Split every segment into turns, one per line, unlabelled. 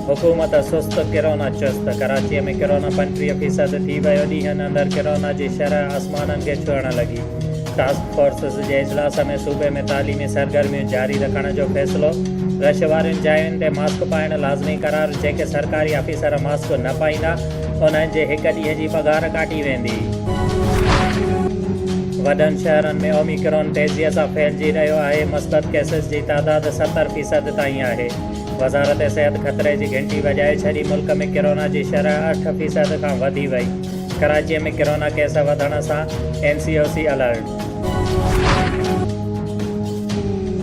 حڪومت سست ڪرونا چست، ڪراچي ۾ ڪرونا پنجٽيهه فيصد ٿي ويو، ڏينهن اندر ڪرونا جي شرح آسمانن کي ڇهڻ لڳي، ٽاسڪ فورسز جي اجلاس ۾ صوبي ۾ تعليمي سرگرميون جاري رکڻ جو فيصلو، رش وارين جاين تي ماسڪ پائڻ لازمي قرار، جيڪي سرڪاري آفيسر ماسڪ نه پائيندا انهن جي هڪ ڏينهن جي پگهار ڪاٽي ويندي. وڏن شهرن ۾ اوميڪرون تيزي سان ڦهلجي رهيو آهي، مثبت ڪيسز جي تعداد ستر فيصد تائين آهي. وزارت صحت خطري جي گهنٽي وڄائي ڇڏي ملڪ ۾ ڪرونا جي شرح اٺ فيصد کان وڌي وئي، ڪراچي ۾ ڪرونا ڪيس وڌڻ سان N C O C alert.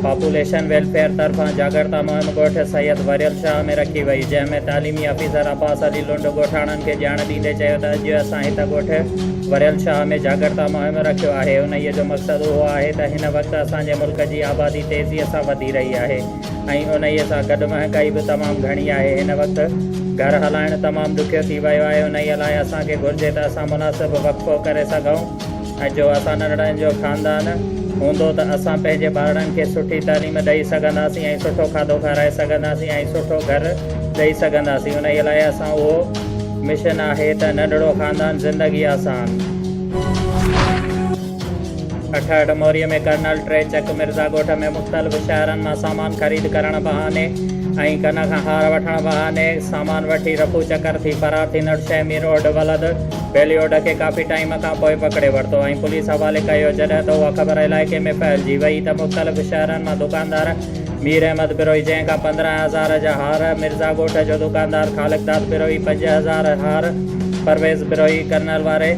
Population welfare طرفان جاڳرتا مهم ڳوٺ سيد وريل شاهه ۾ رکي وئي جنهن ۾ تعليمي آفيسر عباس علي لنڊ ڳوٺاڻن کي ڄاڻ ڏيندي چيو ته اڄ اسان هت ڳوٺ وريل شاهه ۾ جاڳرتا مهم رکيو آهي انهيء جو مقصد اهو آهي ته هن وقت اسان جي ملڪ جي آبادي تيزيء سان وڌي رهي آهي ۽ انهيء سان گڏ مهانگائي به تمام گهڻي آهي. هن وقت گهر هلائڻ تمام ڏکيو ٿي ويو آهي، انهيء لاء اسان کي گهرجي ته اسان مناسب وقفو ڪري سگهون ۽ جو اسان ننڍڙن جو خاندان هوندو ته اسان پنهنجي ٻارڙن کي سٺي تعليم ڏئي سگهنداسين ۽ سٺو کاڌو کارائي سگهنداسين ۽ سٺو گهر ڏئي سگهنداسين، انهيء لاء اسان اهو مشن آهي ته ننڍڙو خاندان زندگي آسان. ٺٽي موري ۾ ڪرنل ٽي چڪ مرزا ڳوٺ ۾ مختلف شهرن مان سامان خريد ڪرڻ بهاني ۽ ڪن کان هار وٺڻ بهاني سامان وٺي رفو چڪر ٿي فرار ٿيندڙ شيخ مير اولڊ ولد ڀيليوڊ کي ڪافي ٽائيم کان پوء پڪڙي ورتو ۽ پوليس حوالي ڪيو جڏهن ته اها خبر علائقي ۾ ڦهلجي وئي ته مختلف شهرن مان دڪاندار مير احمد بروهي جنهن کان پندرهن هزار جا هار مرزا ڳوٺ جو دڪاندار خالقداد بروهي پنج هزار هار پرويز بروهي ڪرنل واري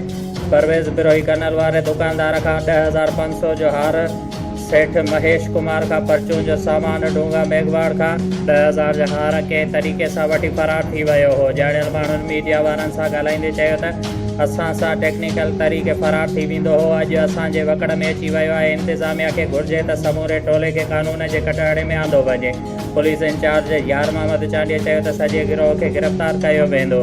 پرويز بروهي ڪنل واري دڪاندار کان ڏهه هزار پنج سؤ جو هار، سيٺ مهيش ڪمار کان پرچون جو سامان، ڊونگا ميگهواڙ کان. ڏهه هزار جو هار ڪنهن طريقي سان وٺي فرار ٿي ويو هو. ڄاڻايل ماڻهن ميڊيا وارن سان ڳالهائيندي چيو ته اسان سان ٽيڪنيڪل طريقي فرار ٿي ويندو هو، اڄ اسان جي وڪڙ ۾ اچي ويو آهي، انتظاميا کي گهرجي ته سموري ٽولي کي قانون جي ڪٽهڙي ۾ آندو وڃي. پوليس انچارج يار محمد چانڊيي چيو ته سڄي گروهه کي گرفتار ڪيو ويندو.